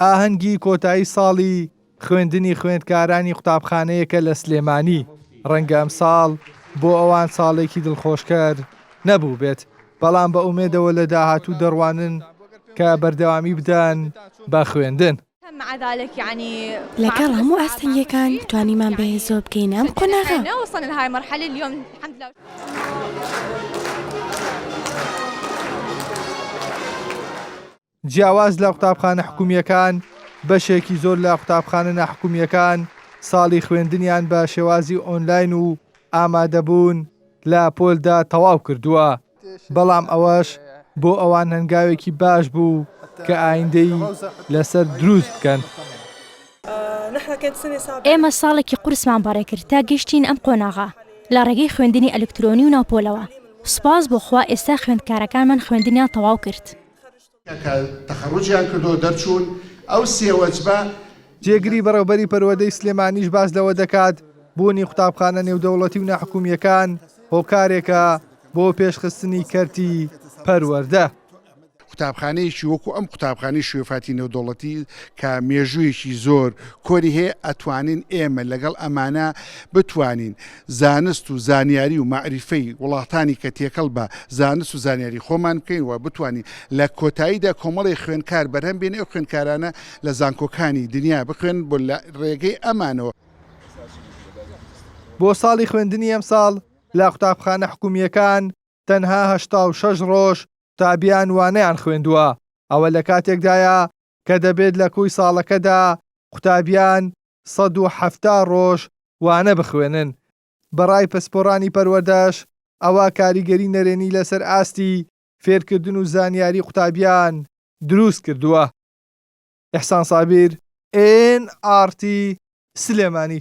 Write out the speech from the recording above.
ئاهەنگی کۆتایی ساڵی خوێندنی خوێندکارانی قوتابخانەیەکە لە سلێمانی ڕەنگە ئەم ساڵ بۆ ئەوان ساڵێکی دڵخۆشکەر نەبوو بێت بەڵام بە ئومێدەوە لە داهاتوو دەڕوانن کە بەردەوامی بدەن بە خوێندن. لەگەڵ هەموو ئاستەنگیەکان توانیمان بەهێزەوە بگەینە ئەم قۆناغە. جیاواز لە قوتابخانە حکومییەکان، بەشێکی زۆر لە قوتابخانە ناحکومییەکان ساڵی خوێندنیان بە شێوازی ئۆنلاین و ئامادەبوون لە پۆلدا تەواو کردووە. بەڵام ئەوەش بۆ ئەوان هەنگاوێکی باش بوو کە ئایندەی لەسەر دروست بکەن. ئێمە ساڵێکی قورسمان بەڕێ کرد تا گەشتین ئەم قۆناغە لە ڕێگەی خوێندنی ئەلکترۆنی و ناوپۆلەوە. سوپاس بۆ خوا ئێستا خوێندکارەکانمان خوێندنیان تەواو کرد. کە تەخەڕوجیان کردو دەرچوون ئەو سێ وەجبە. جێگری بەڕێوبەری پەروەردەی سلێمانیش باس لەوە دەکات، بوونی قوتابخانە نێودەوڵەتی و ناحکومییەکان هۆکارێکە بۆ پێشخستنی کەرتی پەروەردە. قوتابخانەیەکی وەکو ئەم قوتابخانەی شوێفاتی نێودەوڵەتی کە مێژوویەکی زۆر کۆنی هەیە ئەتوانین ئێمە لەگەڵ ئەمانە بتوانین زانست و زانیاری و مەعریفەی وڵاتانی کە تێکەڵ بە زانست و زانیاری خۆمان بکەین و بتوانین لە کۆتاییدا کۆمەڵێ خوێنکار بەرهەم بێنین ئەو خوێنکارانە لە زانکۆکانی دنیا بخوێنن بۆ لە ڕێگەی ئەمانەوە بۆ ساڵی خوێندنی ئەمساڵ لە قوتابخانە حکوومییەکان تەنها هەشتا و شەش ڕۆژ قوتابیان وانەیان خوێندووە، ئەوە لە کاتێکدایە کە دەبێت لە کۆی ساڵەکەدا قوتابیان سەد و حەفتا ڕۆژ وانە بخوێنن، بەڕای پسپۆڕانی پەروەردەش ئەوە کاریگەری نەرێنی لەسەر ئاستی فێرکردن و زانیاری قوتابیان دروست کردووە. ئیحسان سابیر، ئێن ئاڕ تی، سلێمانی.